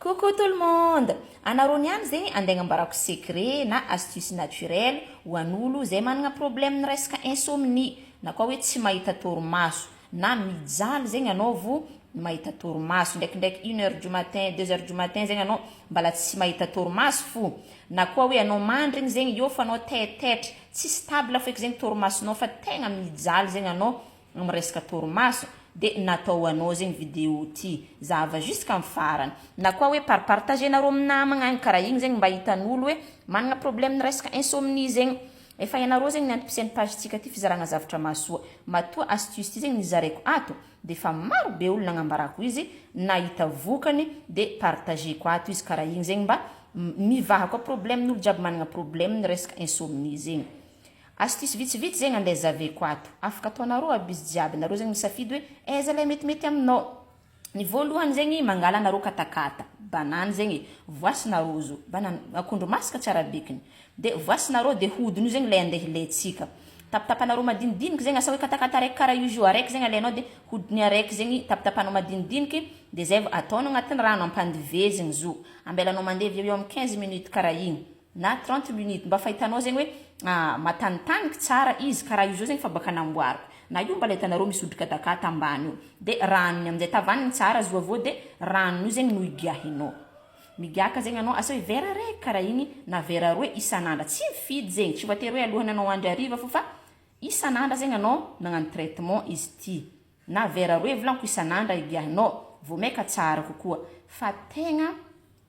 Coucou tout le monde! Anareo niany zegny ande agnambarako secret na astuce naturel ho an'olo zay managna problème ny resaka insomnie na koa hoe tsy mahita torimaso na mijaly zegny anao vo mahita torimaso ndraikindraiky une heure du matin deux heures du matin zegny anao mbala tsy mahita torimaso fo na koa hoe anao mandrigny zegny eo fa anao taitaitra tsy stable feky zegny torimasonao fa tegna mijaly zegny anao Amin'ny resaka torimaso dia natao ho anao zegny vidéo ty. Zahava jusqu'amin'ny farany. Na koa hoe par partager-nareo amin'ny namagna any karaha igny zegny mba hitan'olo hoe managna problème resaka insomnie zegny. Efa ianareo zegny ny antom-pisian'ny page-tsika ty fizaragna zavatra mahasoa. Matoa astuce ty zegny nizaraiko ato dia efa maro be olo nagnambarako izy nahita vokany dia partager-ko ato izy karaha igny zegny mba mivaha koa problème-n'olo jiaby managna problème resaka insomnie zegny. Astuce vitsivitsy zegny andeha zaveko ato. Afaka ataonareo aby izy jiaby, nareo zegny misafidy hoe aiza ilay metimety aminao. Ny voalohany zegny mangala nareo katakata, banane zegny e, voasina rojo, banane, akondro masaka tsy arabekiny. Dia voasinareo dia hodiny io zegny ilay andeha hilaintsika. Tapatapanareo madinidiniky zegny asa hoe katakata araiky karaha io jus araiky zegny alainao dia hodiny araiky zegny tapatapanao madinidiniky dia zay vao ataonao agnatin'ny rano ampandivezigny zo. Ambelanao mandevo eo ho eo amin'ny quinze minutes karaha igny. na trente minutes mba fa hitanao zegny hoe matanitaniky tsara izy karaha io zao zegny fa baka namboariko na io mbala hitanareo misy odrika dakata ambany io de ranony amizay tavanigny tsara azo aveo de ranon'io zegny no igiahinao migiaka zegny anao asa hoe vera raiky karaha igny na vera roe isan'andra tsy mifidy zegny tsy voatery hoe alohany anao handry hariva fô fa isan'andra zegny anao nagnano traitement izy ity na vera roe volaniko isan'andra igiahinao vao maika tsara kokoa fa tegna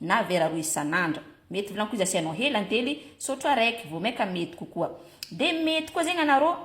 na vera roa isan'andro. Mety volagno koa izy asianao hela antely, sotro araiky, vao maika mety kokoa. Dia mety koa zegny anarô,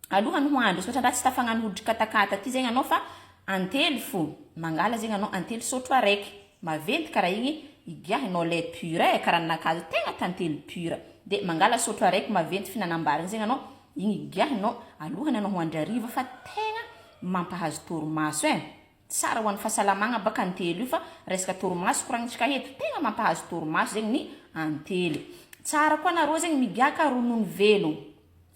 alohany ho andro, misaotra andraha tsy tafagnano hoditry katakata ty zegny anao fa antely fo, mangala zegny anao antely sotro araiky, maventy karaha igny, igiahinao lait pur e, karaha ninakà zao tegna tantely pur, dia mangala sotro araiky maventy fihinanam-bary igny zegny anao, igny igiahinao alohany anao ho andry hariva fa tegna mampahazo torimaso e. Tsara ho an'ny fahasalamagna baka antely io fa resaka torimaso koragnitsika eto, tegna mampahazo torimaso zegny ny antely. Tsara koa nareo zegny migiaka ronono velogno,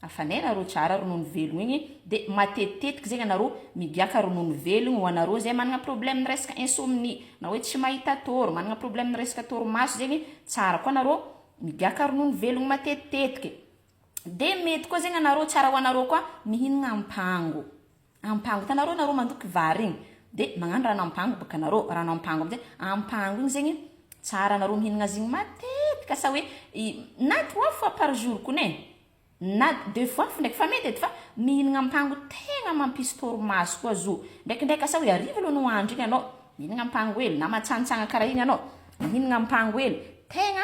hafanay nareo tsara ronono velogno igny de matetitetiky zegny anareo migiaka ronono velogno ho anareo zay managna problème resaka insomnie na hoe tsy mahita tôro, managna problème resaka torimaso zegny tsara koa nareo migiaka ronono velogno matetitetiky. De mety koa zegny anareo tsara ho anareo koa mihinagna ampango. Ampango tanareo nareo mandoky vary igny de magnano rano ampango boka nareo rano ampango amizay ampango igny zegny tsara nareo mihinagna azy igny matetika sa hoe na trois fois par jour kony e na deux fois fo ndraiky fa mety edy fa mihinagna ampango tegna mampisy torimaso koa zo ndraikindraiky asa hoe hariva aloha no handry igny anao mihinagna ampango hely na matsanitsagna kara igny anao mihinagna ampango hely tegna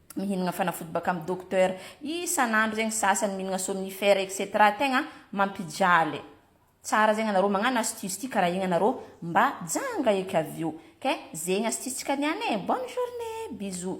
mihinagna fanafody baka am docteur isanandro zegny sasany mihinagna somnifère etc tegna mampijaly tsara zegny anarô magnano astuce ty kara igny anarô mba janga eky avy eo ok zegny astuce tsika niany e bonne journée bisous.